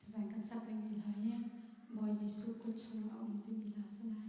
Design kan sak lengmi hla hi Bawi Jesuh kut chung a um timi hla a si lai.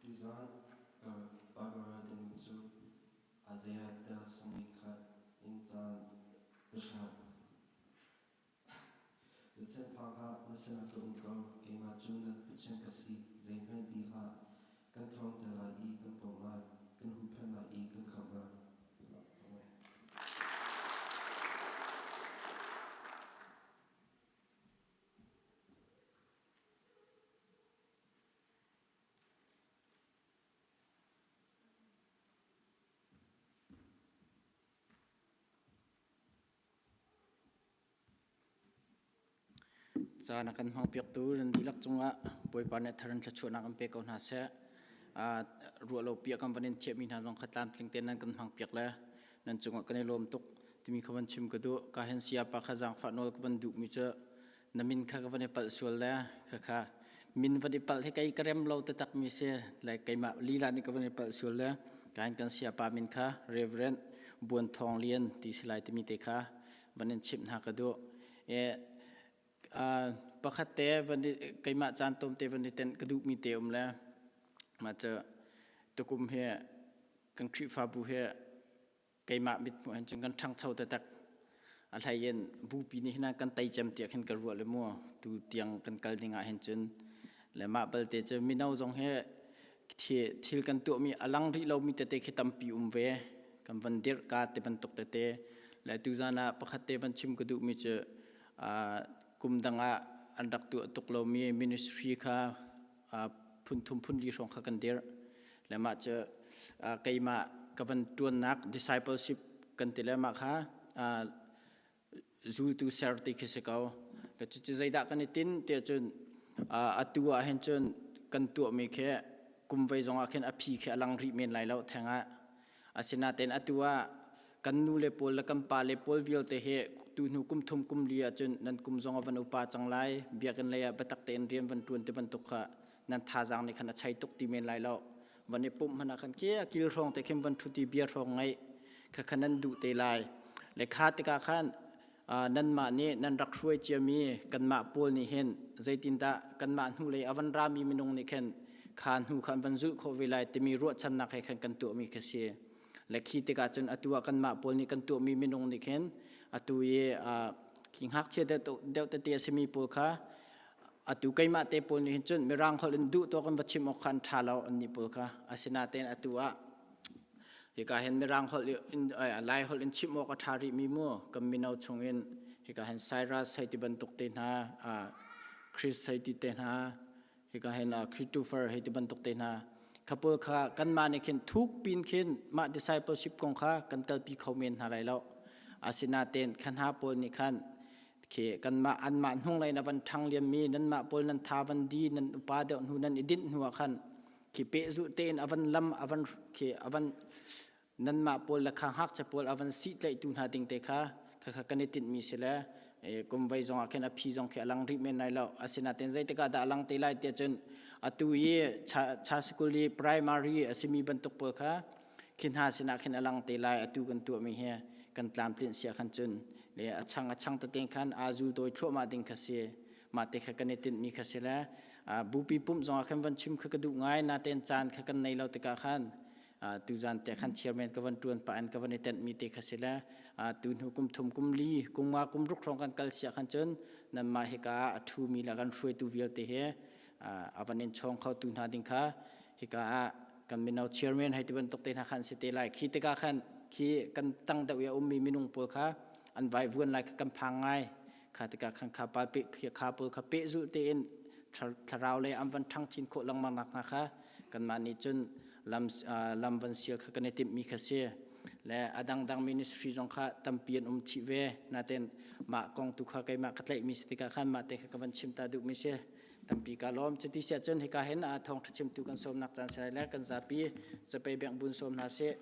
Tizarh para ding cu Isaiah tel sangmi khat in caan pahra. Cuchanphang hlah, na sinah ka um ko, keimah cu na Pathian ka si, zeihmanh ti hlah. Kan ṭhawng te lai i kan pom lai, kan huhphenh lai i kan khamh lai. Caan a kan hmangpiaktu nan dihlak cungah Bawipa nih thar in thluachuahnak an pe ko hna seh. Uh, ruah lopi a kan van in thiahmi hna zong kha tlamtling tein nan kan hmangpiak le nan cungah kan i lawm tuk timi kha van chim ka duh. Ka hen siapa kha zaangfah nawl ka van duhmi cu na min kha ka van i palh sual le kha kha min van i palh hi kei ka rem lo te tak mi si le keimah lila nih ka van i palh sual le kan kan sia pa min kha reverend buan thong lian ti si lai timi te kha van in chim hna ka du e pakhat te van i keimah caan tom te van i ten ka duh mi te um le ma cha tukum hi kan khrifabu hi keimah mit hmuh hin cun kan ṭhangcho taktak a hlei in bupi nih hin kan tei cem tiah khin ka ruah le mu tu tiang kan kal ding ah hin cun le mah balte cu mino zong hi thil kan tuahmi a lang rih lomi tete khi tampi um ve kan van dirh ka te bantuk tete le tuzan ah pakhat te van chim ka duhmi cu kum dang ah an rak tuah tuk lomi ministry kha phunthum phunli hrawng kha kan dirh le mah cu keimah ka van ṭuannak discipleship kan ti le mah kha zultu serti khi si ko le cucu zeidah kan i tin tiah cun atu ah hin cun kan tuahmi khi kum vei zongah khin a phi khi a lang rih men lai lo theng ah Asinain atu ah kan nu le pawl le kan pa le pawl vialte hi tu hnu kum thum kum li ahcun nan kum zong a van upa cang lai biakinn lei ah biatak tein rian van ṭuan ti bantuk kha nan thazaang nih khan a chai tuk ti men lai lo van i pumh hmanh ah khan kia kil hrawng te khin van ṭhut i bia hrawng ngaih kha kha nan duh te lai lekha tikah khan nanmah nih nan rak hruai ciami kanmah pawl nih hin zeitindah kanmah hnu lei avan rami minung nih khin kha hnu kha an van zulh khawh ve lai timi ruahchannak he khan kan tuahmi kha si le khi tikah cun atu ah kanmah pawl nih kan tuahmi minung nih khin atu i khi ngakchia deuh tete a simi pawl kha atu keimah te pawl nih hin cun mirang holh in duh tuak in va chim awk khan ṭha lo anni pawl kha asinatein atu ah hika hen mirang holh in lai holh in chim awk a ṭha rih mi mu kan mino chung in hika hen Cyrus hei ti bantuk te hna Chris hei ti te hna hika hen Christopher hei ti bantuk te hna khapul kha kanmah nih khin thuk pin khin mah discipleship kong kha kan kalpi kho men hna lai lo asinaten khan ha pawl nih khan khi kanmah anmah hnung lei na van ṭhang liam mi nanmah pawl nan tha van di nan upa deuh hnu nan i dinh hnu ah khan khi pehzuh tein avan lam avan khi avan nanmah pawl le kha ngakchia pawl avan si tlaihtu hna ding te kha kha kan i tinh mi si le kum vai zong ah khin a phi zong khi alang rih men lai lo asinaten zeitikah dah alang te lai tiah cun atu i cha school i primary asimi bantuk pawl kha khi hna sinah khin alang te lai atu kan tuah mi hi kan tlam tlin sia khan cun le achang achang te khan azul doi thluahmah ding kha si mah te kha kan i tinh mi kha si le bupi pumh zong ah khan van chim kha ka duh ngai na ten caan kha kan nei lo tikah khan tu zan te khan chairman ka van tuan pa an ka van i tent mi te kha si le tu hnu kum thum kum li kum nga kum ruk rong kan kal sia khan chun nan ma hi ka a thu mi la kan hruai tu vialte he avan in chong kho tu hna ding kha hi ka kan mino chairman hai ti bantuk te na khan si te lai khi tika khan khi kan tang deuh ya um mi minung pol kha an vai vuan lai kan phang ngai kha tikah khan kha pa pe kha pawl kha pe zul tein thlarau lei am van thang chin khawh lengmang nak hna kha kanmah nih cun lam lam van sial kha kan i timh mi kha si le a dangdang ministry zong kha tampi an um chi ve naten mah kong tu kha keimah ka tlaih mi si tikah khan mah te kha ka van chim ta duh mi si tampi ka lom cuti sia cun hika hin a thong thachim tu kan som nak chan sai le kan zapi zapei beng bun som na si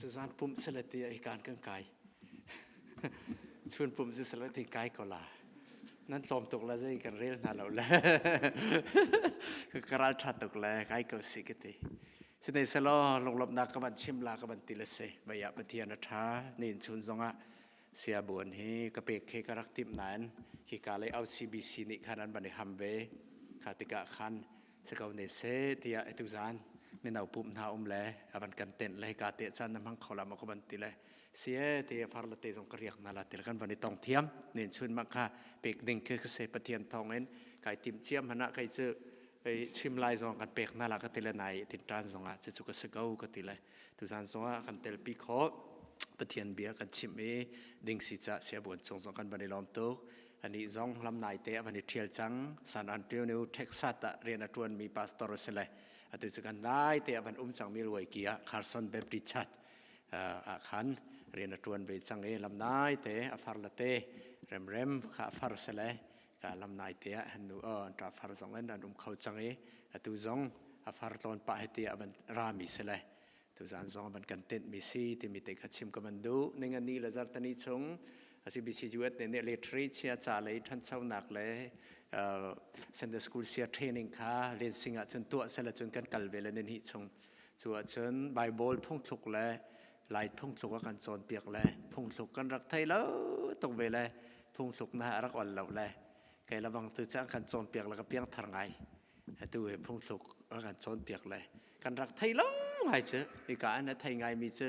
Cazan pumh sale ti ai kan kan kai. Chun pumh si sale ti kai ko la. Nan tlawm tuk la zei kan rel hna lo le. Ka ral tha tuk le kai ko si ka ti. Sinai salo lunglomnak ka man chim la ka man ti le se. Baya Pathian a tha. Ni in chun zongah Siabuan hi ka pek khi ka rak tim nain hi ka lei au CBC nih khan an ban i ham ve kha tikah khan se ko ne se tiah etu zan mino pum hna um le avan kan tenh le ka te chan na mang kho lam ko ban ti le sie te far la te zong ka riak na la ti kan van i tong thiam nen chun ma kha pek ding khi ka se pathian thong in kai tim chiam hana kai chu Pei chim lai zong kan pek hna la ka ti le nai tinṭan zong ah cu ka si ko ka ti le tuzan zong ah kan telpi khawh Pathian bia kan chimh i dingsi ca sia buan chung zong kan van i lawm tuk ani zong lam nai te avan i ṭhial cang San Antonio Texas ah rian a ṭuan mi pastor si le atu cu kan nai te avan um cang Milwaukee ah Carson Baptist Church ah khan rian a ṭuan ve cang i lam nai te a far la te remrem kha a far si le lam naite ah han nu ta far zong an an um kho chang i atu zong a far tlon pa he ti aban ra mi se le tu zan zong aban kan tent mi si timi te kha chim kaman du ning ani la zar tani chung asi BCUS ne ne literary chia cha le than chaunak le Sunday school sia training kha len sing ah chun tu se la chun kan kal ve le ne hi chung chu a chun bible phung thluk le lai phungthluk a kan cawnpiak le phungthluk kan rak thei lo tuk ve le phungthluk na rak ol lo le kei la bang tu cang kan cawnpiak la ka piang thar ngai tu he phungthluk a kan cawnpiak le kan rak thei lo ngai chứ i ka an thei ngai mi chứ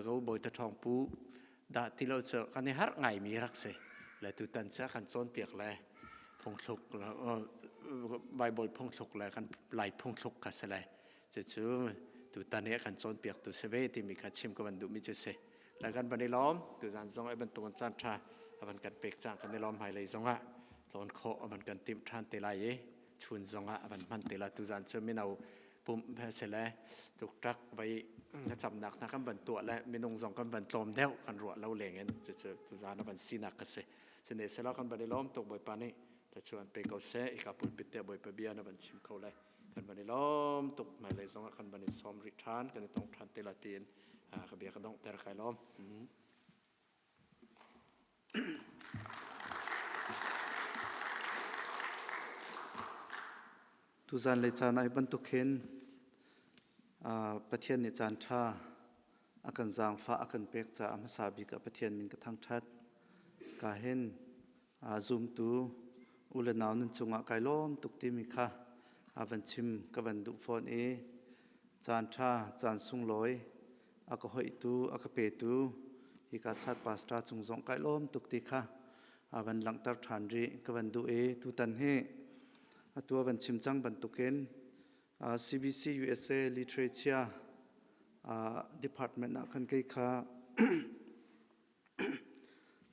go boi ta thong pu da ti lo chứ kan i har ngai mi rak se le tu tan cha kan cawnpiak le phungthluk bible phungthluk le kan lai phungthluk ka se le Cucu tutan i a kan cawnpiaktu si ve timi kha chim ka van duhmi cu si. La kan van i lawm, tuzan zong a bantukan caan tha a van kan pek cang kan i lawm hmailei zong ah lon khawh a van kan timh than te lai i chun zong ah a van hman te lai tuzan cu mino pump si le tuktak vai camnak hna kan van tuah le minung zong kan van tlawm deuh kan ruah lo leng in cucu tuzan a van sinak ka si sine selo kan van i lawm tuk bawipa nih ta chuan pe ko se i ka pulpit te bawipa bia na van chim ko lai kan van i lom tuk mai lei zong ah kan van i som rih than kan i tong than te la tiin ka bia ka dong ter kai lom tu zan le caan ai bantuk hin pathian nih caan tha akan zaangfa akan pek caah hmasa bik ah pathian min ka thang that ka hin aa zumtu u le nau nan cungah kai lawm tuk timi kha a van chim ka van duh fawn i caan ṭha caan sunglawi a ka hoihtu a ka petu hika chat pastor cung zong kai lawm tuk ti kha a van langhter ṭhan rih ka van duh i tutan hi atu a van chim cang bantukin uh, CBC USA literature uh, department ah khan kei kha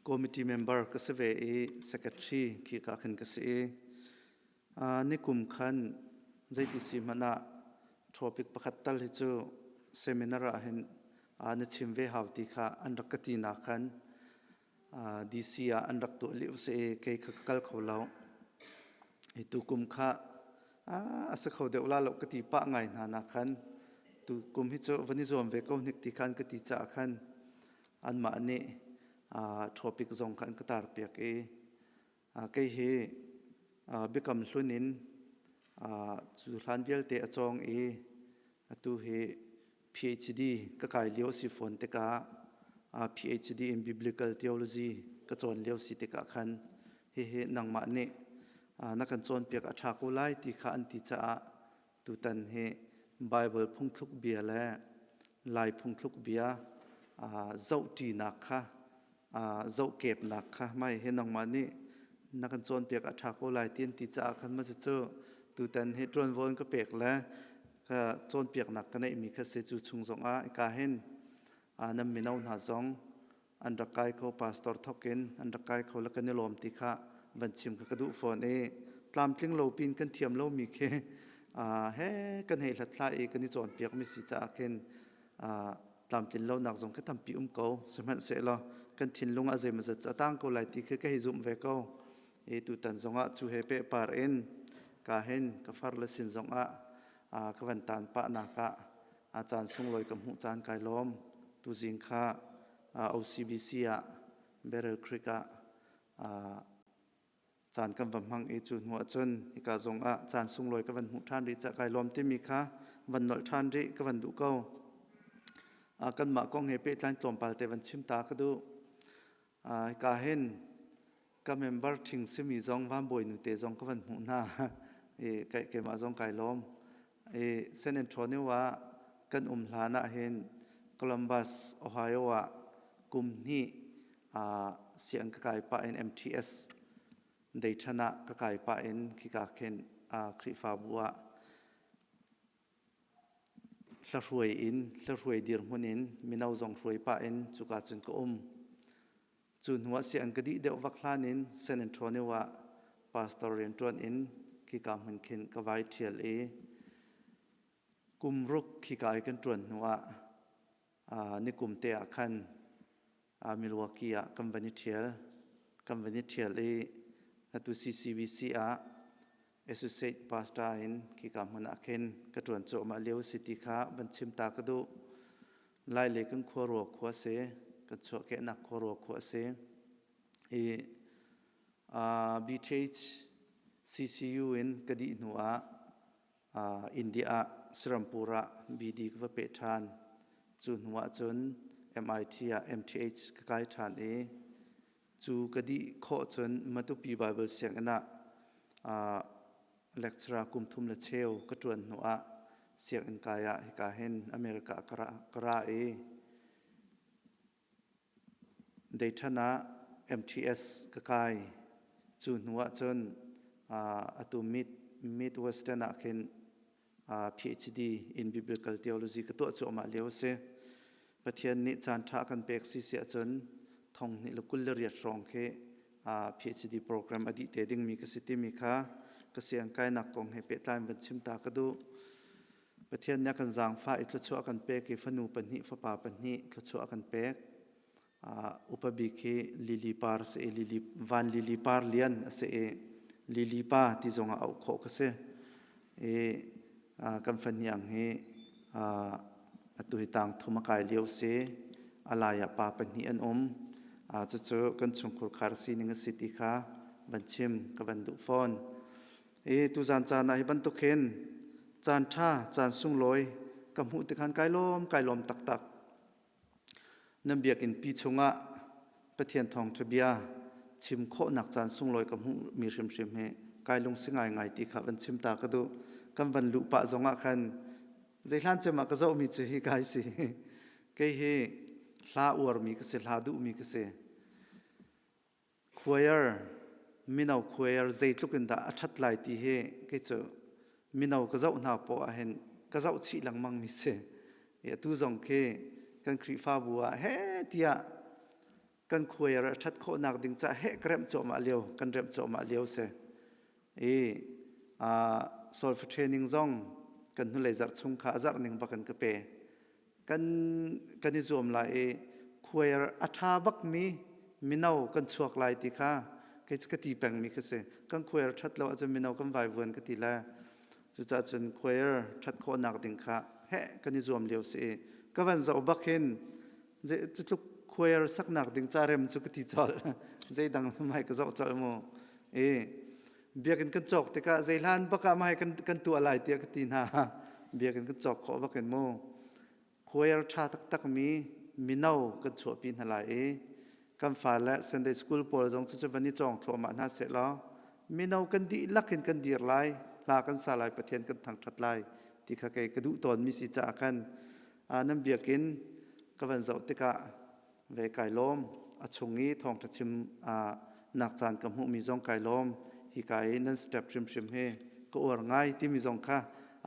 Committee member ka si ve i secretary khi ka khan ka si i nikum khan zeiti si hmanh ah topic pakhat tal hi cu seminar ah hin na chim ve hau ti kha an rak ka ti na khan DC ah an rak tuah lio si kei kha ka kal kho lo hi tu kum kha a si kho deuh la lo ka ti pa ngai hna na khan tu kum hi cu van i zuam ve ko hnik ti khan ka ti caah khan anmah nih topic zong kha an ka tarpiak i kei hi biakam hlun in cu hlan vialte a cawng i atu hi PhD ka kai lio si fawn tikah PhD in Biblical Theology ka cawn lio si tikah khan hihi nangmah nih na kan cawnpiak a ṭha ko lai ti kha an ti caah Tutan hi Baibal phungthluk bia le Lai phungthluk bia zohṭinak kha zohkepnak kha mai he nangmah nih na kan cawnpiak a ṭha ko lai ti ti caah khan ma cucu tutan hi ṭuanvo in ka pek le ka cawnpiaknak ka neihmi kha si cu chung zongah ka hin nan mino hna zong an rak kai kho pastor thok in an rak kai kho la kan i lawm ti kha van chim kha ka duh fawn i tlamtling lo pin kan thiam lo mi khi he kan hei hlat hla i kan i cawn piak mi si caah khin tlamtlin lo nak zong ka tampi um ko sihmanhsehlaw kan thinlung ah zeimaw zat a tang ko lai ti khi ka hei zumh ve ko i tutan zong ah cu he pe par in ka hin ka far le sin zong ah ka van tan pa nak ah A caan sunglawi ka hmuh caan kai lawm. Tuzing kha OCBC ah Barrel Creek ah caan kan va hmang i cu hnu ahcun hika zong ah caan sunglawi ka van hmuh ṭhan rih cah kai lawm timi kha van nolh ṭhan rih ka van duh ko. Kanmah kong he pehtlai tlawmpal te van chim ta ka duh. ka hin ka member ṭhing simi zong van bawinu te zong ka van hmuh hna i keimah zong kai lawm i San Antonio ah kan um hlan ah hin Columbus Ohio ah kum hnih siang ka kai pah in MTS dei ṭhan ah ka kai pah in khika khin Khrihfabu ah Hlahruai in hlahruai dirhmun in mino zong hruai pah in cuka cun ka um. Cu hnuah siah an ka dih deuh vak hlan in San Antonio ah pastor rian ṭuan in khika hmun khin ka vai ṭhial i kum ruk khika i kan ṭuan hnuah nikum te ah khan uh, Milwaukee ah kan van i ṭhial. Kan van i ṭhial i atu CCVC ah associate pastor in khika hmun ah khin ka ṭuan cuahmah lio si ti kha van chim ta ka duh. Lai le kan khuaruah khua si, kan chuahkehnak khuaruah khua si. I uh, BTH CCU in ka dih hnu ah Uh, India ah Sirampur ah BD ka va pe ṭhan. Cu hnu ah cun MIT ah MTH ka kai ṭhan i cu ka dih khawh cun Matupi Bible Sianginn ah uh, lecturer kum thum le cheu ka ṭuan hnu ah sianginn kai ah hika hin America ka ra, ka ra i Deithan ah MTS ka kai. Cu hnu ahcun atu Mid Western ah khin PhD in Biblical Theology ka tuah cuahmah lio a si. Pathian nih caan ṭha a kan pek si si ahcun thong hnih le kul le riat hrawng khi PhD program a dih te dingmi ka si timi kha ka siangkainak kong he pehtlai in van chim ta ka duh. Pathian nih a kan zaangfah i thluachuah a kan pek i fanu pahnih fapa pahnih thluachuah a kan pek. Uh, upa bik hi lili par si i lili, van lili par lian a si i lili pa ti zongah auh khawh ka si. I uh, kan fahniang hi uh, atu hi tang thum a kai lio si a lai ah pa pahnih an um. Uh, cucu kan chungkhur khar sining a si ti kha van chim ka van duh fawn. e tuzan caan ah hi bantuk hin caan tha caan sunglawi ka hmuh tikhan kai lom kai lom taktak nan biakin pi chungah pathian thawng ṭha bia chim khawhnak caan sunglawi ka hmuh mi hrimhrim hi kai lung si ngai ngai ti kha van chim ta ka du kan van lu pa zongah khan zeihlan cemah ka zohmi cu hi kai si kei hi hla uarmi ka si hla duhmi ka si Choir, mino choir zeitluk in dah a ṭhat lai ti hi kei cu mino ka zoh hna poah ah hin ka zoh chih lengmang mi si. Atu zong khi kan Khrihfabu ah heh tiah kan choir a ṭhat khawhnak ding ca heh ka remh cuahmah lio, kan remh cuahmah lio si. I solfa training zong kan hnulei zarh chung kha a zarh ning bak in ka pe. kan kan i zuam lai i khuair a ṭha bakmi mino kan chuak lai ti kha kei cu ka ti pengmi ka si kan khuair ṭhat lo ahcun mino kan vaivuan ka ti le cucaah cun khuair ṭhat khawhnak ding kha heh kan i zuam lio si i ka van zoh bak hin cutluk khuair saknak ding carem cu ka ti colh zeidang mai ka zoh colh mu i biakinn kan cawk tikah zeihlan bak ah mahai kan, kan tuah lai tiah ka ti hna biakinn kan cawk khawh bak in mu choir ṭha taktakmi mino kan chuahpi hna lai i kan fale Sunday school pawl zong cu van i cawng thluahmah hna seh law mino kan dihlak in kan dir lai hla kan sa lai pathian kan thangṭhat lai ti kha kei ka duh tawnmi si caah khan nan biakin ka van zoh tikah ve kai lawm a chung i thawngṭha chim ah nak caan ka hmuhmi zong kai lawm hi ka i nan step hrimhrim hi ka uar ngai timi zong kha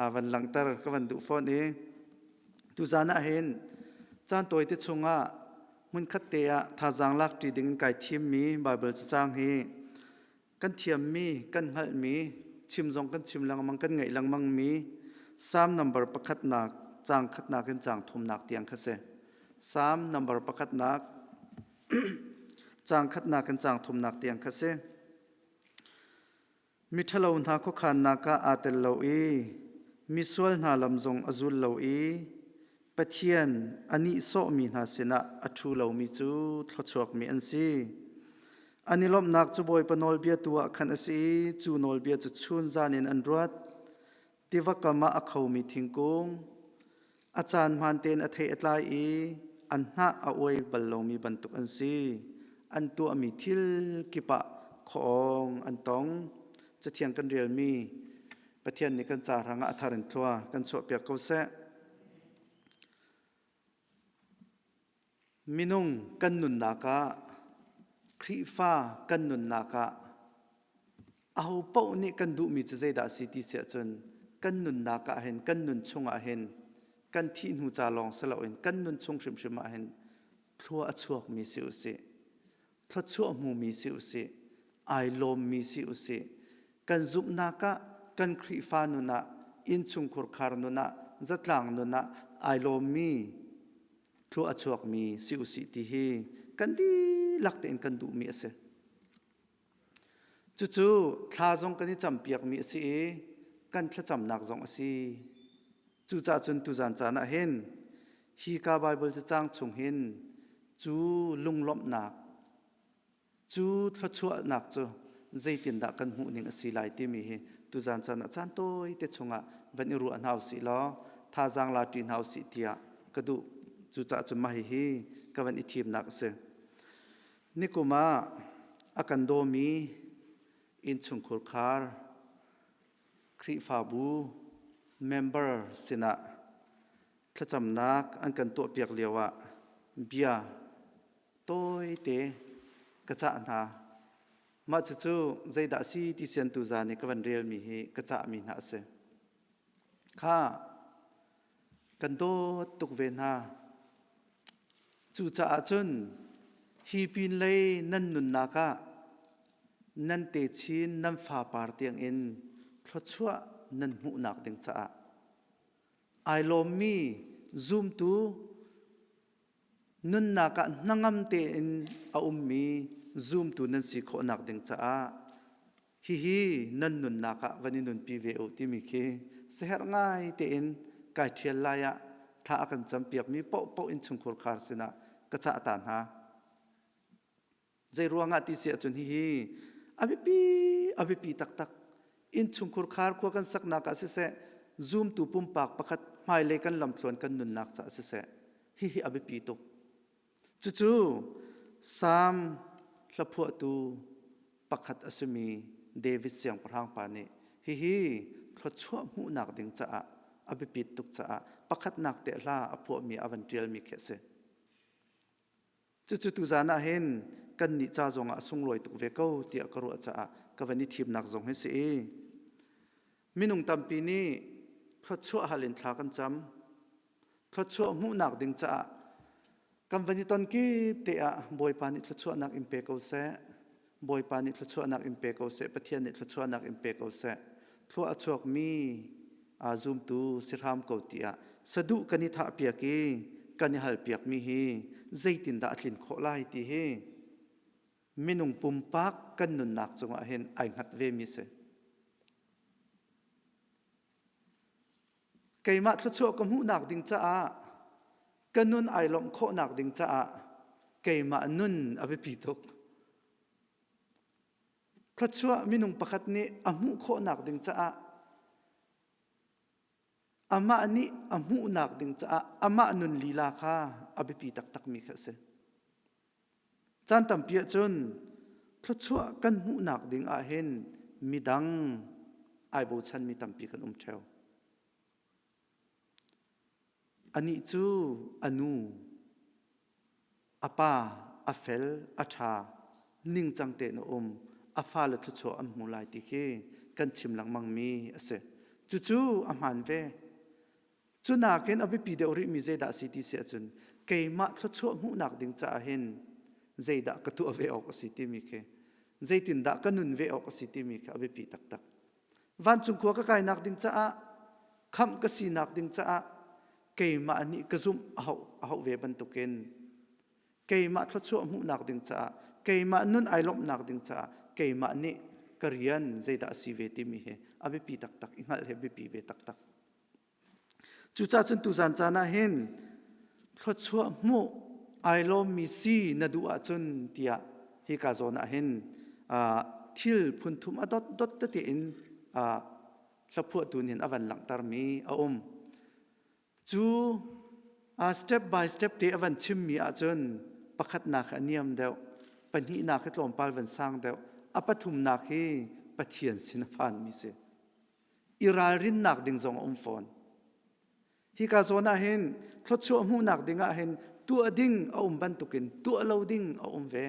a van langhter ka van duh fawn i tuzan ah hin caan tawite chungah hmunkhat te ah thazaang lak ṭi ding in kai thimmi Bible cacang hi kan thiammi, kan hngalhmi, chim zong kan chim lengmang, kan ngaih lengmangmi Salm number pakhatnak, cang khatnak in cang thumnak tiang kha si. Salm number pakhatnak, cang khatnak in cang thumnak tiang kha si. Miṭhalo hna khuakhannak ah aa tel lo i misual hna lam zong a zul lo i Pathian a nihsawhmi hna sinah a ṭhu lomi cu thluachuakmi an si. An i lawmhnak cu Bawipa nawlbia tu ah khan a si i cu nawlbia cu chun zan in an ruat. Tiva kam ah a khomi thingkung, a caan hmaan tein a thei a tlai i an hnah a uai bal lomi bantuk an si. An tuahmi thil kip ah khawng an tong. Cathiang kan rialmi, Pathian nih kan ca hrangah a thar in thlua kan chuahpiak ko seh. Minung kan nunnak ah Khrihfa kan nunnak ah aho paoh nih kan duhmi cu zeidah si ti siah cun kan nunnak ah hin kan nun chungah hin kan thih hnu ca lawng si loin kan nun chung hrimhrim ah hin thlua a chuakmi si usih thluachuah hmumi si usih, ai lawmmi si usih, kan zumhnak ah kan Khrihfa nun ah, innchungkhur khar nun ah, zatlang nun ah ai lawmmi, thlua a chuakmi si usih ti hi kan dihlak tein kan duhmi a si. Cucu thla zong kan i campiakmi a si i kan thlacamnak zong a si. Cucah cun tuzan caan ah hin Hika Baibal cacang chung hin cu lunglawmhnak, cu thluachuahnak cu zeitindah kan hmuh ning a si lai timi hi tuzan chan ah caan tawi te chungah van i ruah hna usih law thazaang la ṭi hna usih tiah ka duh. Cucaah cun mah hihi ka van i thimnak a si. Nikum ah a kan dawmi innchungkhur khar Khrihfabu member sinah thlacamnak an kan tuahpiak lioah bia tawite ka cah hna. Mah cucu zeidah a si ti siantu za nih ka van relmi hi ka cahmi hna a si. Kha kan dawt tuk ve hna. Cucaah cun hi pin lei nan nunnak ah nan te chin nan fapar tiangin thluachuah nan hmuhnak ding caah ai lawmmi zumtu Nunnak ah hnangam tein a ummi zumtu nan si khawhnak ding caah hihi nan nunnak ah van i nunpi ve u timi khi siherh ngai tein kai ṭhial lai ah thla a kan campiakmi paohpaoh in chungkhur khar sinah ka cah ta hna. Zei ruangah ti si ahcun hihi a biapi a biapi taktak inn chungkhur khar khua kan saknak ah siseh zumtu pumpak pakhat hmailei kan lamthluan kan nunnak caah siseh hihi a biapi tuk cucu Psalm hlaphuahtu pakhat a simi David siangpahrang pa nih hihi thluachuah hmuhnak ding caah a biapit tuk caah pakhatnak te hla a phuahmi a van ṭialmi khi a si. Cucu tuzan ah hin kannih ca zongah a sunglawi tuk ve ko tiah ka ruah caah ka van i thimnak zong hi si i minung tampi nih thluachuah hal in thla kan cam. Thluachuah hmuhnak ding caah kan van i ton kip te ah Bawipa nih thluachuahnak in pe ko seh. Bawipa nih thluachuahnak in pe ko seh, Pathian nih thluachuahnak in pe ko seh. Thlua a chuakmi aa zumtu si hram ko tiah saduh kan i thahpiak i kan i halpiakmi hi zeitindah a tlin khawh lai ti hi minung pumpak kan nunnak cungah hin ai hngat vemi si. Keimah thluachuah ka hmuhnak ding caah ka nun ai lawmh khawhnak ding caah keimah nun a biapi tuk. Thluachuah minung pakhat nih a hmuh khawhnak ding caah amah nih a hmuhnak ding caah amah nun lila kha a biapi taktakmi kha a si. Caan tampi ahcun thluachuah kan hmuhnak ding ahhin midang ai bochanmi tampi kan um ṭheo. Anih cu a nu, a pa, a fel, a ṭha, ningcang tein a um, a fale thluachuah an hmu lai ti khi kan chim lengmangmi a si. Cucu a hmaan ve. Cu nakin a biapi deuh rihmi zeidah a si ti si ahcun keimah thluachuah hmuhnak ding caah hin zeidah ka tuah ve awk a si timi khi zeitindah ka nun ve awk a si timi khi a biapi taktak. Vancung khua ka kainak ding caah khamh ka sinak ding caah keimah nih ka zumh a hau a hau ve bantukin keimah thluachuah hmuhnak ding caah keimah nun ai lawmhnak ding caah keimah nih ka rian zeidah a si ve timi hi a biapi taktak i hngalh hi a biapi ve taktak. Cucah cun tuzan caan ah hin thluachuah hmuh ai lawmmi si na duh ahcun tiah hi ka zawn ah hin thil phunthum a dot dot tete in hlaphuahtu nih a van langhtermi a um. Cu step by step te a van chimmi ahcun pakhatnak a niam deuh, pahnihnak hi tlawmpal van sang deuh, a pathumnak hi Pathian sin a phanmi si. i ralrinnak ding zong a um fawn. Hika zawn ah hin thluachuah hmuhnak ding ah hin tuah ding a um bantukin tuah lo ding a um ve.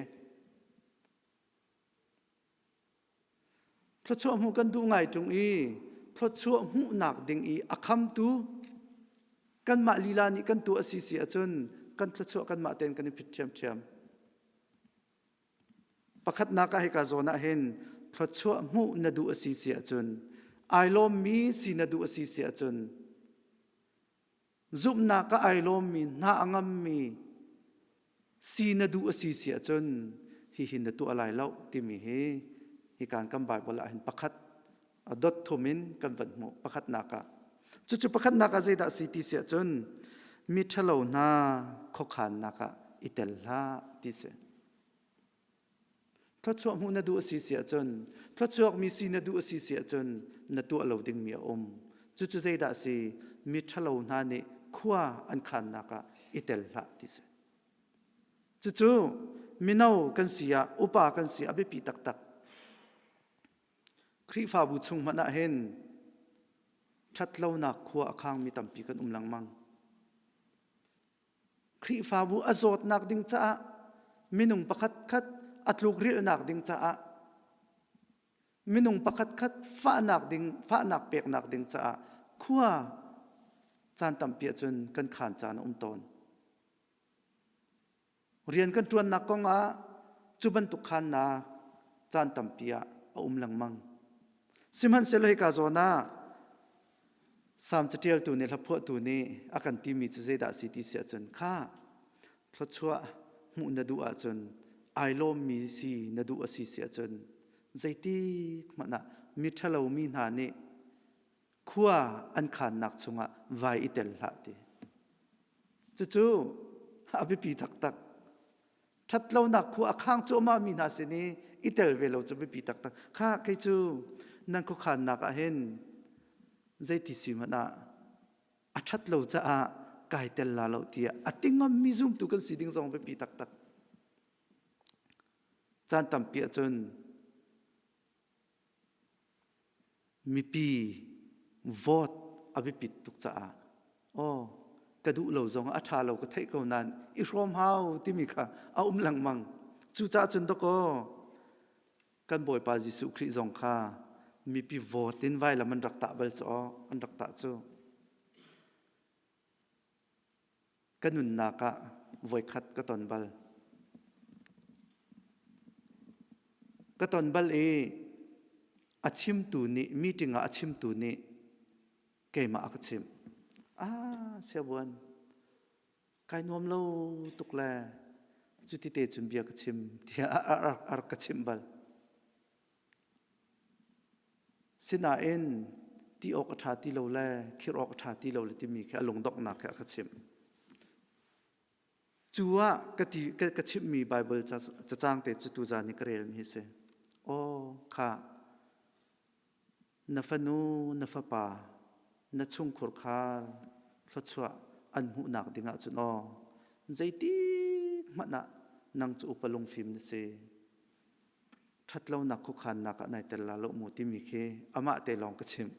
Thluachuah hmuh kan duh ngai tung i thluachuah hmuhnak ding i a khamtu kanmah lila nih kan tu a si si ahcun kan thluachuah kanmah ten kan i phit ṭhiamṭhiam. Pakhatnak ah hika zawn ah hin thluachuah hmuh na duh a si si ahcun ai lawmmi si na duh a si si ahcun zumhnak ah ai lawmmi hna a ngammi si na duh a si si ahcun hihin na tuah lai lo timi hi hi kan kan Bible ah hin pakhat a dot thum in kan van hmuh pakhatnak ah cucu pakhatnak ah zeidah si ti si ahcun mi ṭhalo hna khuakhannak ah i tel hlah ti si thluachuah hmuh na duh a si si ahcun thluachuakmi si na duh a si si ahcun na tuah lo dingmi a um cucu zeidah si mi ṭhalo hna nih khua an khannak ah i tel hlah ti si cucu mino kan si ah upa kan si a biapi taktak Khrihfabu chung hmanh ah hin ṭhatlonak khua a khangmi tampi kan um lengmang. Khrihfabu a zawtnak ding caah minung pakhat khat a tlukrilhnak ding caah minung pakhat khat fahnak ding fahnak peknak ding caah khua caan tampi ahcun kan khaan caan a um tawn. rian kan ṭuannak kong ah cu bantuk khannak caan tampi ah a um lengmang. Sihmanhsehlaw hika zawn ah Salm caṭialtu nih hlaphuahtu nih a kan timi cu zeidah a si ti si ahcun kha thluachuah hmuh na duh ahcun ai lawmmi si na duh a si si ahcun zeitik hmanh ah miṭhalo mi hna nih khua an khannak chungah vai i tel hlah ti. Cucu a biapi taktak. Ṭhatlonak khua a khang cuahmah mi hna sin i i tel ve lo cu biapi taktak. Kha kei cu nan khuakhannak ah hin zeiti si hmanh ah a ṭhat lo caah kai tel la lo tiah a tingam mi zumtu kan si ding zong biapi taktak. Caan tampi ahcun Mipi vote a biapit tuk caah aw ka duh lo zong a ṭha lo ka theih ko nain i hrawm hau timi kha a um lengmang. Cucaah cun dawkaw kan Bawipa Jesuh Khrih zong kha mipi vote in vailam an rak tah bal cu aw, an rak tah cu. Ka nunnak ah voikhat ka ton bal. Ka ton bal i a chimtu nih meeting ah a chimtu nih keimah a ka chimh. Ah, siabuan, kai nuam lo tuk le cuti te cun bia ka chim tiah a rak ka chimh bal. Sinain ti awk a ṭha ti lo le khirh awk a ṭha ti lo le timi khi a lungdonghnak he a ka chimh. Cu ah ka ti ka, ka chimhmi Baibal cacang te cu tuzan i ka relmi hi si. Aw kha na fanu, na fapa, na chungkhur khar thluachuah an hmuhnak ding ahcun aw zeitik hmanh ah nang cu upa lungfim na si. Ṭhatlonak khuakhannak ah nai tel la lo mu timi khi amah te lawng ka chimh.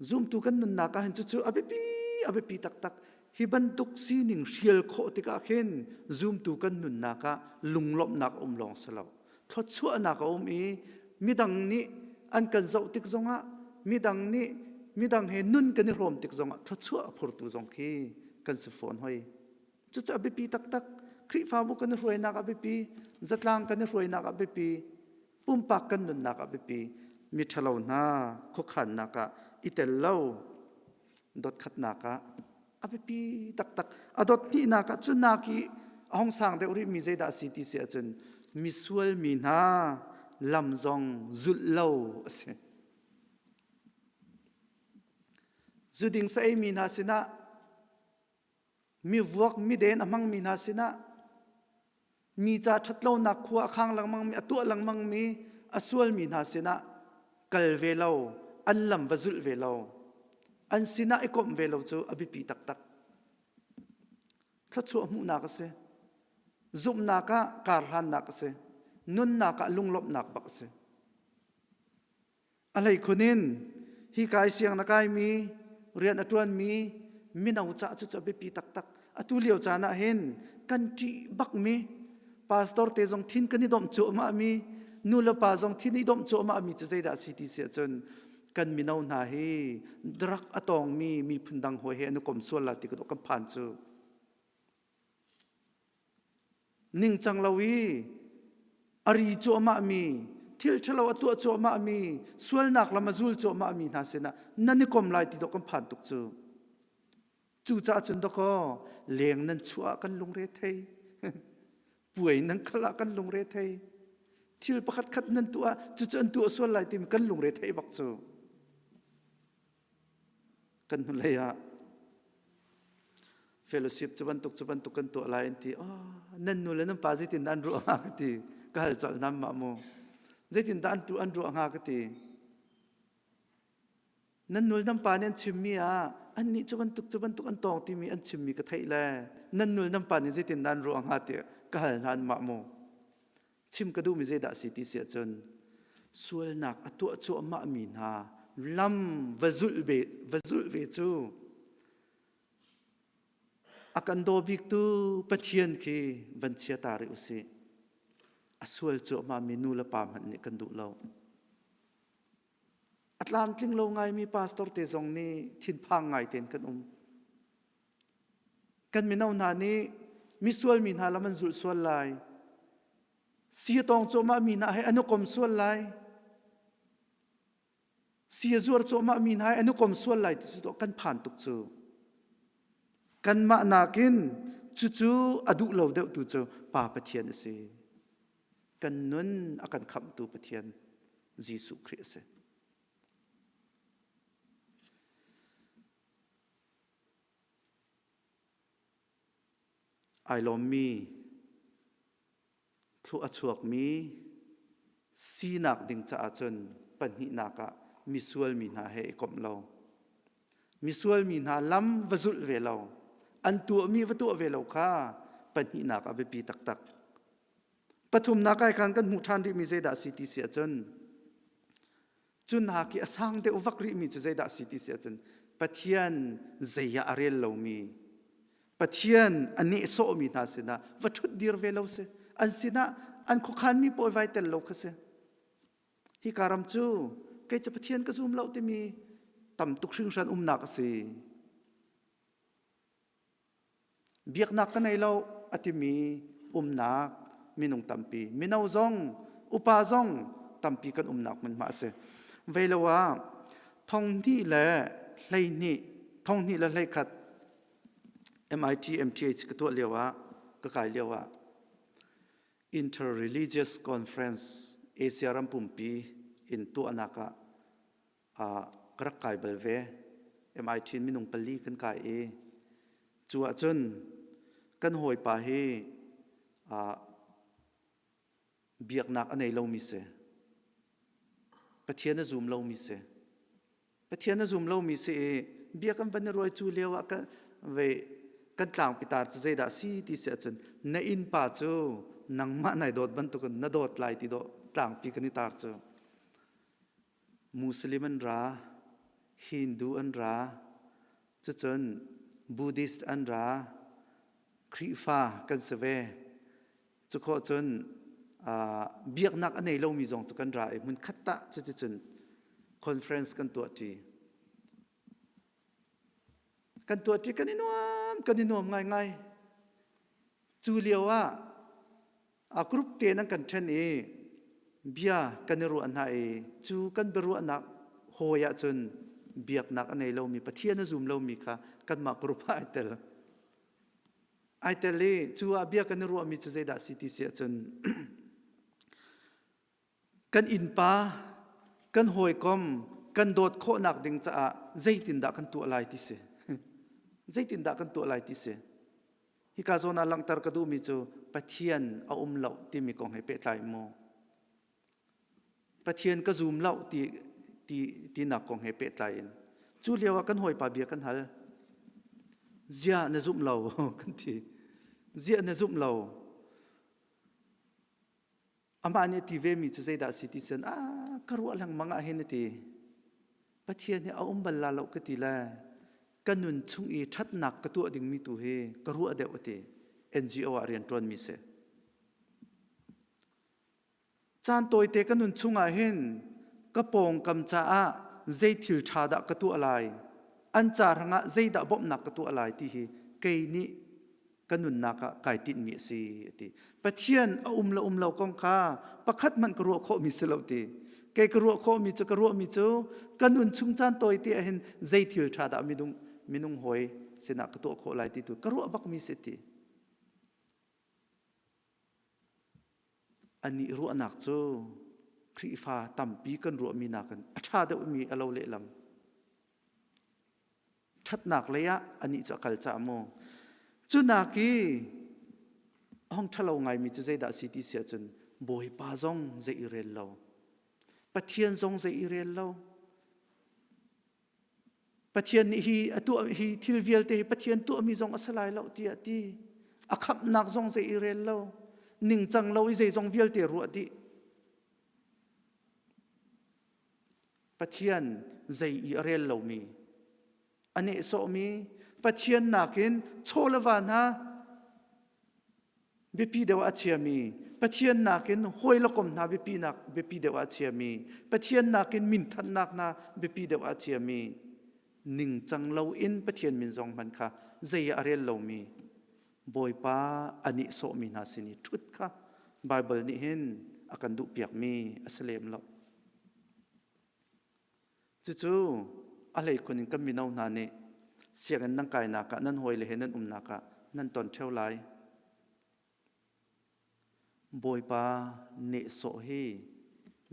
Zumtu kan nunnak ah hin cucu a biapi a biapi taktak hi bantuk sining hrial khawh tikah khin zumtu kan nunnak ah lunglawmhnak um lawng si lo. Thluachuahnak a um i midang nih an kan zoh tik zongah midang nih midang he nun kan i hrawm tik zongah thluachuah a phurtu zong khi kan si fawn hoi. Cucu a biapi taktak. Khrihfabu kan i hruainak a biapi. Zatlang kan i hruainak a biapi. Pumpak kan nunnak a biapi. Miṭhalo hna khuakhannak ah i tel lo dotkhatnak ah a biapi taktak. A dot hnihnak ah cu nak i a hong sang deuh rih mi zeidah a si ti si ahcun misual mi hna lam zong zulh lo a si. Zuding saei mi hna sinah Mivuak miden a hmangmi hna sinah mi ca ṭhatlonak khua a khang lengmangmi, a tuah lengmangmi, a sualmi hna sinah kal ve lo, an lam va zulh ve lo, an sinah i komh ve lo cu a biapi taktak. Thluachuah hmuhnak a si. Zumhnak ah karhlannak a si. Nunnak ah lunglawmhnak bak a si. a hlei khun in hi kai siang na kaimi rian a ṭuanmi mino ca cu cu a biapi taktak atu lio caan ah hin kan ṭih bakmi pastor te zong thin kan i domh cu amahmi nu le pa zong thin i domh cu amahmi cu zeidah a si ti si ahcun kan mino hna hi drug a tawngmi miphun dang hawi he an i kom sual la ti kan phan cu ningcang lo i a ri cuahmahmi thil ṭhalo a tuah cuahmahmi sualnak lam a zul cuahmahmi hna sinah nan i kom lai ti dawk kan phan tuk cu cucaah cun dawkaw leng nan chuah ah kan lungre thei puai nan khal ah kan lungre thei thil pakhat khat nan tuah ah cucu an tuah sual lai timi kan lungre thei bak cu kan hnulei ah fellowship cu bantuk cu bantuk kan tuah lai an ti oh, nan nu le nan pa zeitin dah an ruah hnga ka ti ka hal colh nam mah mu zeitin dah an tu an ruah hnga ka ti nan nul nan pa nih an chimmi ah an nih cu bantuk cu bantuk an tawng timi an chimmi ka theih le nan nul nan pa nih zeitin nan ruah hnga ti ka hal hlan mah mu chim ka duhmi zeidah a si ti si ahcun sualnak a tuah cuahmah mi hna lam va zulh ve va zulh ve cu a kan daw biktu Pathian khi van chia ta rih usih a sual cuahmah mi nu le pa hmanh nih kan duh lo a tlamtling lo ngaimi pastor te zong nih thinphang ngai tein kan um Kan mino hna nih misual mi hna lam an zulh sual lai. Sia tawng cuahmah mi hna he an i kom sual lai. Sia zuar cuahmah mi hna he an i kom sual lai ti cu to kan phan tuk cu. Kanmah nakin cucu a duh lo deuh tu cu Pa Pathian a si. Kan nun a kan khamhtu Pathian Jesuh Khrih a si. Ai lawmmi, thluh a chuakmi sinak ding caah cun pahnihnak ah misual mi hna he i komh lo. Misual mi hna lam va zulh ve lo, an tuahmi va tuah ve lo kha pahnihnak ah biapi taktak. Pathumnak ai khan kan hmuh ṭhan rihmi zeidah a si ti si ahcun, cu nak i a sang deuh vak rihmi cu zeidah si ti si ahcun Pathian zeiah a rel lomi Pathian a nehsawhmi hna sinah va ṭhut dir ve lo si an sinah an khuakhanmi pawi vai tel lo kha si hi ka ram cu kei cu Pathian ka zum lo timi tam tuk hringhran umnak a si biaknak ka nei lo a timi umnak minung tampi mino zong upa zong tampi kan umnak hmunhma a si vei lo ah thonghnih le hleihnih thonghnih le hleikhat MIT MTH ka tuah lio ah ka kai lio ah interreligious conference Asia ram pumpi in tuahnak ah ka rak kai bal ve. MIT in minung pali kan kai i cu ahcun kan hawipa hi biaknak a nei lomi si. Pathian a zum lomi si. Pathian a zum lomi si i bia kan van i ruai cu lio ah kan vei kan tlang pitar cu zeidah si ti si ahcun na innpa cu nangmah nai dawt bantukin na dawt lai ti dawh tlangpi kan i tar cu. Muslim an ra, Hindu an ra, cucun Buddhist an ra, Khrihfa kan si ve. Cukhawh cun biaknak a nei lomi zong cu kan ra i hmunkhat tah cuticun conference kan tuahṭi. Kan tuahṭi kan i nuam, kan i nuam ngaingai. Cu lio ah a group te nan kan ṭhen i bia kan i ruah hna i cu kan biaruahnak hawi ahcun biaknak a nei lomi Pathian a zum lomi kha kanmah group ah ai tel. Ai tel i cu ah bia kan i ruahmi cu zeidah a si ti si ahcun kan innpa, kan hawikom, kan dawt khawhnak ding caah zeitindah kan tuah lai ti si. zeitindah kan tuah lai ti si. Hika zawn ah langhter ka duhmi cu Pathian a um lo timi kong he pehtlai mu. Pathian ka zum lo ti, ti, tinak kong he pehtlai in. Cu lio ah kan hawipa bia kan hal. Zia na zumh lo kan ti. Zia na zumh lo. Amah nih a ti vemi cu zeidah a si ti cun a ka ruah lengmang ah hin a ti. Pathian hi a um bal la lo ka ti le ka nun chung i ṭhatnak ka tuah dingmi tu hi ka ruah deuh a ti. NGO ah rian ṭuanmi si. Caan tawite ka nun chungah hin ka pawngkam caah zei thil ṭha dah ka tuah lai, an ca rangah zeidah bawmhnak ka tuah lai ti hi kei nih ka nunnak ah kai tinhmi a si a ti pathian a um lo um lo kong kha pakhat hmanh ka ruah khawhmi si lo ti kei ka ruah khawhmi cu ka ruahmi cu ka nun chung caan tawi te ahhin zei thil ṭha dah minung minung hawi sinah ka tuah khawh lai ti tu ka ruah bakmi si ti anih ruahnak cu Khrihfa tampi kan ruahmi nakin a ṭha deuhmi a lo lehlam ṭhatnak lei ah anih cu a kal ca mu cu nak i hong ṭhalo ngaimi cu zeidah a si ti si ahcun bawipa zong zei i rel lo pathian zong zei i rel lo pathian nih hi a tuah hi thil vialte hi pathian tuahmi zong a si lai lo tiah ti a khamnak zong zei i rel lo ningcang lo i zeizong vialte ruah dih Pathian zei i a rel lomi, a nehsawhmi, Pathian nakin chaw le va hna biapi deuh ah a chiami, Pathian nakin hawi le kom hna biapinak biapi deuh ah a chiami, Pathian nakin minthannak hna biapi deuh ah a chiami, ningcang loin Pathian min zong hman kha zei ah a rel lomi, Bawipa a nihsawhmi hna sin i ṭhut kha Baibal nih hin a kan duhpiakmi a si lem lo. Cucu a hleikhun in kan mino hna nih sianginn nan kainak ah nan hawile he nan umnak ah nan ton ṭheo lai. Bawipa nehsawh hi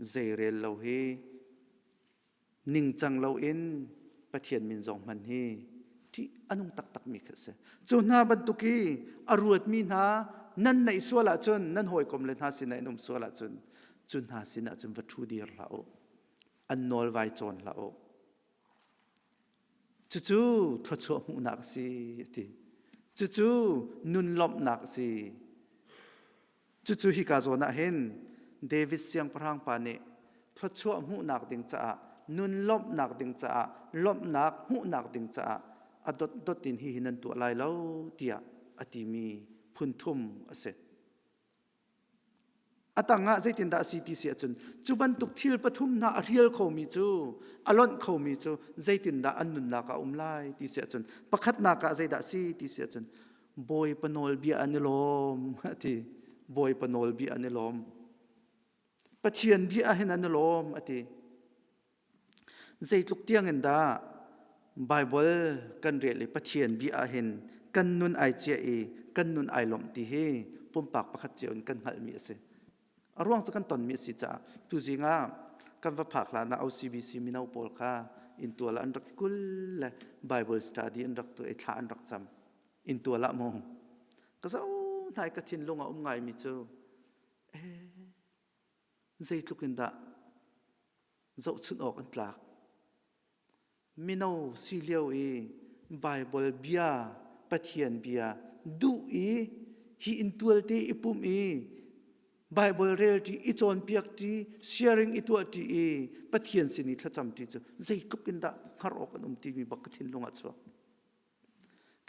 zeirel lo hi ningcang loin Pathian min zong hman hi ṭih a nung taktakmi kha a si. Cu hna bantuk i a ruatmi hna nan neih sual ahcun, nan hawikom le hna sinah in um sual ahcun, cu hna sinah cun va ṭhu dir hlah u. An nawlvai cawn hlah u. Cucu thluachuah hmuhnak a si a ti. Cucu nun lawmhnak a si. Cucu hika zawn ah hin David siangpahrang pa nih thluachuah hmuhnak ding caah nun lawmhnak ding caah lawmhnak hmuhnak ding caah a dotdot in hihi nan tuah lai lo tiah a timi phunthum a si. A tangah zeitindah a si ti si ahcun cu bantuk thil pathum hna a hrial khomi cu a lonh khomi cu zeitindah an nunnak ah a um lai ti si ahcun pakhatnak ah zeidah a si ti si ahcun bawipa nawlbia an i lawm ti bawipa nawlbia an i lawm Pathian bia ah hin an i lawm a ti Zeitluk tiangin dah Baibal kan rel i Pathian bia ah hin kan nun ai cia i kan nun ai lawmh ti hi pumpak pakhat cio in kan hngalhmi a si. A ruang cu kan tonmi a si caah tuzing ah kan va phak hlan ah OCBC mino pawl kha intual ah an rak i kul le Bible study an rak tuah i thla an rak cam. Intual ah mu. Ka zo hnai ka thinlung a um ngaimi cu, ee, zeitluk in dah zohchunh awk an tlak. Mino si lio i Baibal bia, Pathian bia duh i hi inn tualte i pum i Baibal relṭi i cawnpiak ṭi, sharing i tuah ṭi i Pathian sin i thlacam ṭi cu zeitluk in dah hngar awk an um timi bak ka thinlung ah a chuak.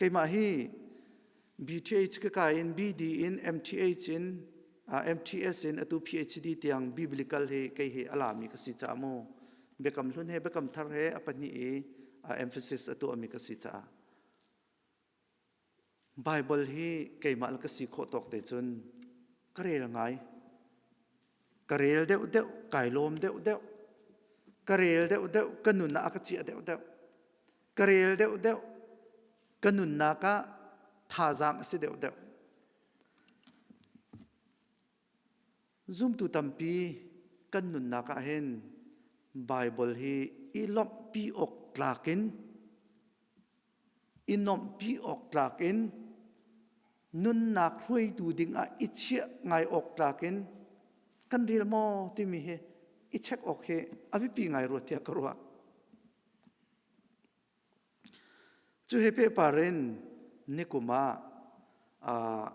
Keimah hi BTH ka kai in BD in MTH in MTS in atu PhD tiang biblical hi kei hi a lami ka si caah mu biakam hlun he biakam thar he a pahnih i emphasis a tuahmi ka si caah Bible hi keimah la ka si khawh tawk te cun ka rel ngai. ka rel deuhdeuh kai lawm deuhdeuh ka rel deuhdeuh ka nunnak a ka ciah deuhdeuh ka rel deuhdeuh ka nunnak ah thazaang a si deuhdeuh zumtu tampi kan nunnak ah hin Baibal hi i lawmhpi awk tlak in i nuamhpi awk tlak in nunnak hruaitu dingah i chiah ngai awk tlak in kan rel maw timi hi i check awk hi a biapi ngai rua tiah ka ruah cu he pe par in nikum ah uh,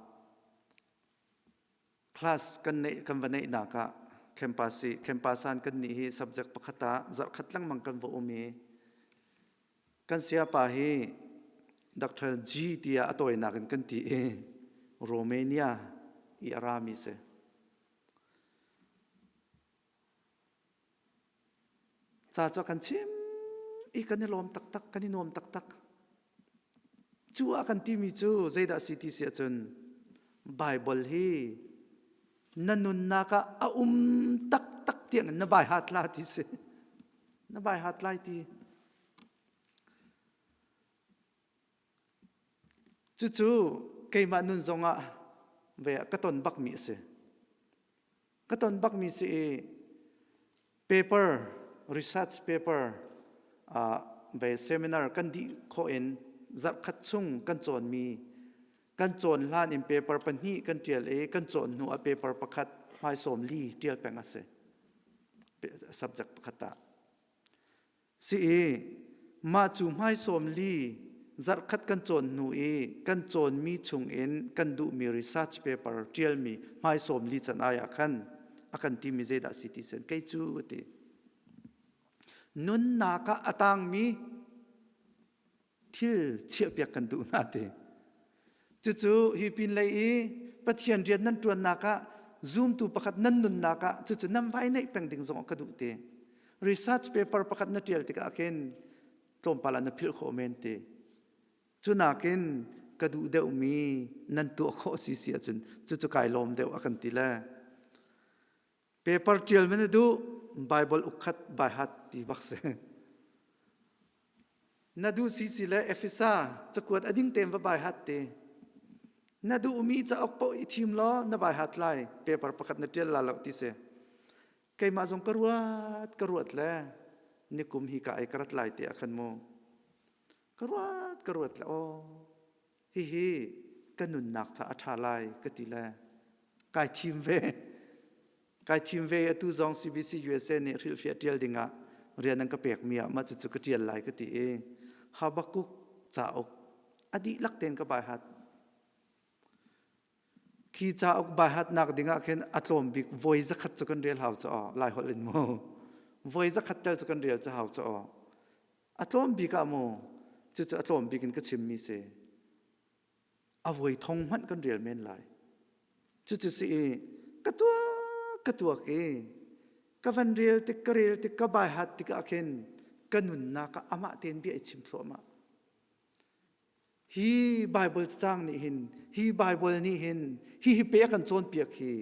Class kan neih kan va neihnak ah campus i campus an kan nih hi subject pakhat ah zarhkhat lengmang kan va um i kan sayapa hi Dr. G tiah a tawinak in kan ti i Romania i a rami si. Ca cu a kan chim i kan i lawm taktak, kan i nuam taktak. Cu a kan timi cu zeidah a si ti si ahcun Baibal hi na nunnak ah a um taktak tiangin na vai hat la ti si. Na vai hat lai ti. Cucu keimah nun zongah ve ka ton bakmi a si. Ka ton bakmi si i paper, research paper, uh, ve seminar kan dih khawh in zarhkhat chung kan cawnmi kan cawn hlan in paper pahnih kan ṭial i kan cawn hnu ah paper pakhat hmaisawm li ṭial peng a si. Subject pakhat ah. si i mah cu hmaisawm li zarhkhat kan cawn hnu i kan cawnmi chungin kan duhmi research paper ṭialmi hmaisawm li can ai ah khan a kan timi zeidah si ti sen kei cu ti nunnak ah a tangmi thil chiahpiak kan duh hna te cucu hi pin lei i pathian rian nan ṭuannak ah zumtu pakhat nan nunnak ah cucu nan vai neih peng ding zong ka duh te research paper pakhat na ṭial tikah khin tlawmpal ah na philh khawh men te cu nakin ka duh deuhmi nan tuah khawh si si ahcun cucu kai lawm deuh a kan ti le Paper ṭial men a duh, Baibal ukhat baihat ti bak si. Na duh si si le Efesa cakuat a ding tein va baihat te. Na duhmi cauk paoh i thim law na baihat lai paper pakhat na ṭial la lo ti si. Keimah zong ka ruat ka ruat le nikum hi ka ai ka rat lai te a khan mu. Ka ruat ka ruat le aw. hihi ka nunnak ca a ṭha lai ka ti le kai thim ve kai thim ve atu zong CBC USA nih hrilhfiah ṭial dingah rian an ka pekmi ah mah cucu ka ṭial lai ka ti i Habakuk cauk a dihlak tein ka baihat Khi cauk baihatnak ding ah khin a tlawm bik voi zakhat cu kan rel hau cu aw, lai holh in mu. Voi zakhat tal cu kan rel cu hau cu aw. A tlawm bik ah mu, cucu a tlawm bik in ka chimmi si. A voi thong hmanh kan rel men lai. Cucu si i, ka tuak, ka tuak i, ka van rel tik, ka rel tik, ka baihat tik ah khin, ka nunnak ah amah tein bia i chim thluahmah. hi Bible cang nih hin hi Bible nih hin hi hi pe kan cawnpiak hi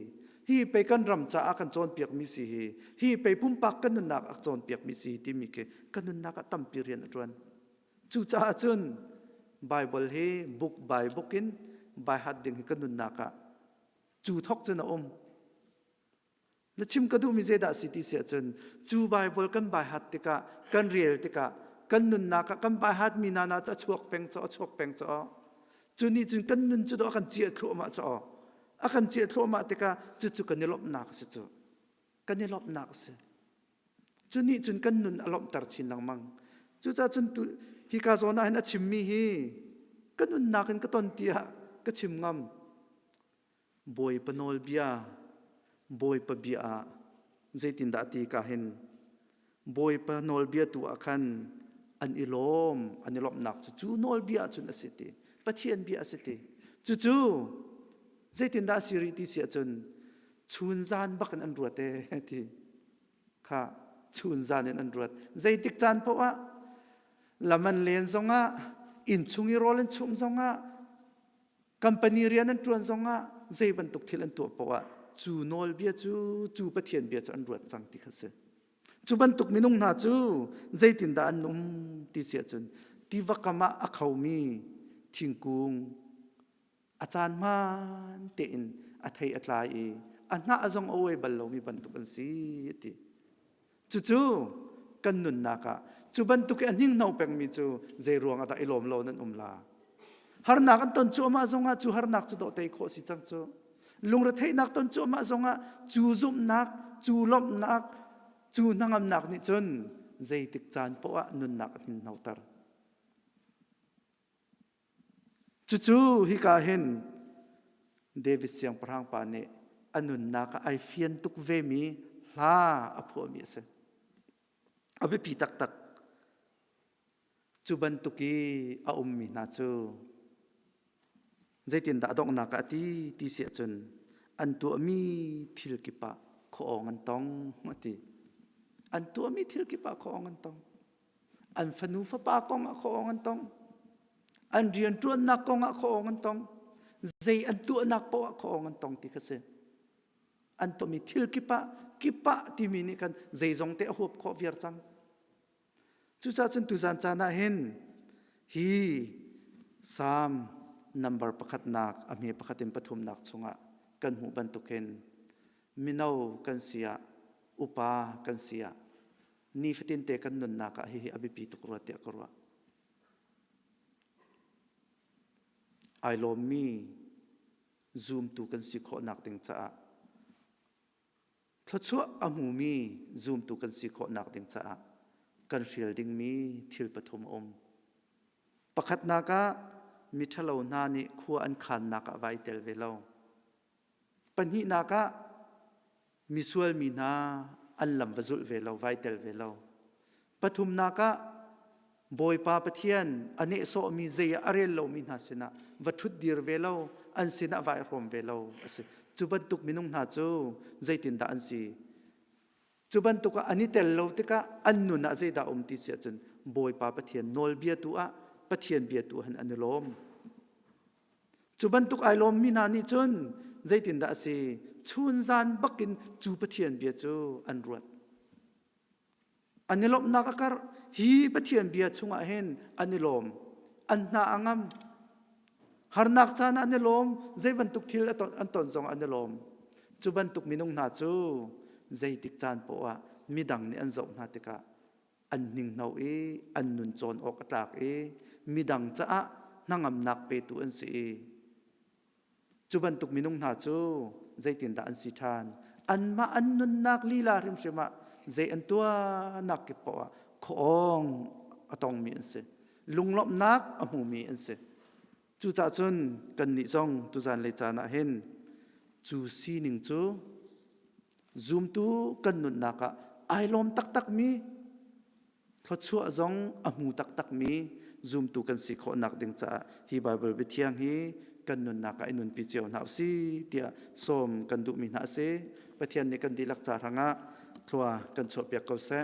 hi pe kan ram caah kan cawnpiak mi si hi hi pe pumpak kan nunnak a cawnpiak mi si timi khi kan nunnak a tampi rian a ṭuan cucaah cun Bible hi book by book in by heart ding hi kan nunnak ah cu thok cun a um Na chim ka duhmi zeidah si ti si ahcun cu Baibal kan baihat tikah, kan rel tikah, kan nunnak ah kan baihat mi nana cu a chuak peng caw, a chuak peng caw. Cu nih cun kan nun cu do a kan ciah thluahmah caw. A kan ciah thluahmah tikah cucu kan i lawmhnak a si cu. Kan i lawmhnak a si. Cu nih cun kan nun a lawmhter chin lengmang. Cucaah cun tu, hika zawn ah hin a chimmi hi, ka nunnak in ka ton tiah ka chim ngam. Bawipa nawlbia Bawipa bia ah zeitindah ti ka hin Bawipa nawlbia tu ah khan an i lawm an i lawmhnak cu cu nawlbia cun a si ti Pathian bia a si ti cucu zeitindah a si rih ti si ahcun chun zan bak in an ruat e ti kha chun zan in an ruat zeitik caan paoh ah lam an len zongah inn chung i rawl an chum zongah Company rian an ṭuan zongah zei bantuk thil an tuah poah cu nawlbia cu cu Pathian bia cu an ruat cang ti kha si. Cu bantuk minung hna cu zeitindah an um ti si ahcun tiva kam ah a khomi thingkung a caan hmaan tein a thei a tlai i a hnah zong a uai bal lomi bantuk an si a ti. Cucu kan nunnak ah cu bantuk i a hningno pengmi cu zeiruang ah dah i lawm lo nan um la? Harnak an ton cuahmah zongah cu harnak cu dawh tei khawh si cang cu. Lungretheihnak ton cuahmah zongah cu zumhnak, cu lawmhnak, cu hnangamnak nih cun zeitik caan poah nunnak a hninnoter. Cucu hika hin David siangpahrang pa nih a nunnak ah ai fian tuk vemi hla a phuahmi a si. A biapi taktak. Cu bantuk i a ummi hna cu zeitindah a donghnak ah a ti ti si ahcun an tuahmi thil kip ah khuaawng an tong a ti. An tuahmi thil kip ah khuaawng an tong. an fanu fapa kong ah khawng an tong an rianṭuannak kong ah khawng an tong zei an tuahnak poah khawng an tong ti kha si an tomi thil kip ah kip ah timi nih khan zeizong te a huap khawh viar cang cucaah cun tuzan caan ah hin hi psalm number pakhatnak a hme pakhat in pathumnak chungah kan hmuh bantuk hin mino kan si ah upa kan si ah nifatin te kan nunnak ah hihi a biapi tuk rua tiah ka ruah ai lawmmi zumtu kan si khawhnak ding caah thluachuah a hmumi zumtu kan si khawhnak ding caah kan hrial dingmi thil pathum a um pakhatnak ah miṭhalo hna nih khua an khannak ah vai tel ve lo Pahnihnak ah misual mi hna an lam va zulh ve lo, vai tel ve lo. Pathumnak ah Bawipa Pathian a nehsawhmi zei a rel lomi hna sinah va ṭhut dir ve lo, an sinah vai hrawm ve lo a si. Cu bantuk minung hna cu zeitindah an si? Cu bantuk ah an i tel lo tikah an nun ah zeidah um ti si ahcun Bawipa Pathian nawlbia tu ah Pathian bia tu han an i lawm. Cu bantuk ai lawmmi hna nih cun zeitindah a si? Chun zan bakin cu Pathian bia cu an ruat. An i lawmhnak a karh. Hi Pathian bia chungah hin an i lawm. An hna a ngam. Harnak caan ah an i lawm. Zei bantuk thil an ton zong an i lawm. Cu bantuk minung hna cu zeitik caan poah midang nih an zoh hna tikah an hningno i an nun cawn awk a tlak i midang caah hnangamnak petu an si i cu bantuk minung hna cu zeitindah an si ṭhan anmah an nunnak lila hrimhrim ah zei an tuahnak kip poah ah khawng a tongmi an si lunglawmhnak a hmumi an si Cucah cun kannih zong tuzan lei caan ah hin cu sining cu zumtu kan nunnak ah ai lawm taktakmi thluachuah zong a hmu taktakmi zumtu kan si khawhnak ding caah hi Baibal biathiang hi kan nunnak ah i nunpi cio hna u si tiah sawm kan duhmi hna a si Pathian nih kan dihlak ca hrangah thlua kan chuahpiak ko seh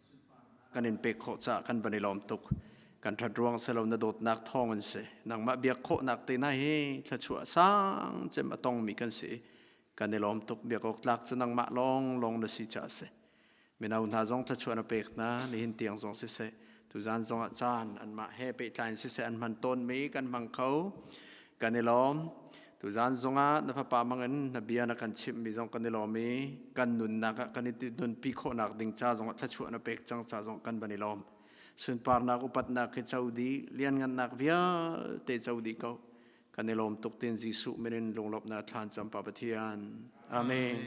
kan in pek khawh caah kan van i lawm tuk kan ṭhat ruang si lo na dawtnak thawng in si nangmah biak khawhnak te hna hi thluachuah sang cem a tongmi kan si kan i lawm tuk biak awk tlak cu nangmah lawng lawng na si caah si mino hna zong thluachuah na pek hna nihin tiang zong si se tuzan zongah caan anmah he pehtlai in si se an hman tawnmi kan hmang kho kan i lawm tuzan zongah na fapa mangin na bia na kan chimhmi zong kan i lawm i kan nunnak ah kan i nunpi khawhnak ding ca zongah thluachuah na pek cang ca zong kan van i lawm sunparnak upatnak khi co dih lianngannak vialte co dih ko kan i lawm tuk tin Jesuh minin lunglawmhnak thlan cam pa Pathian amen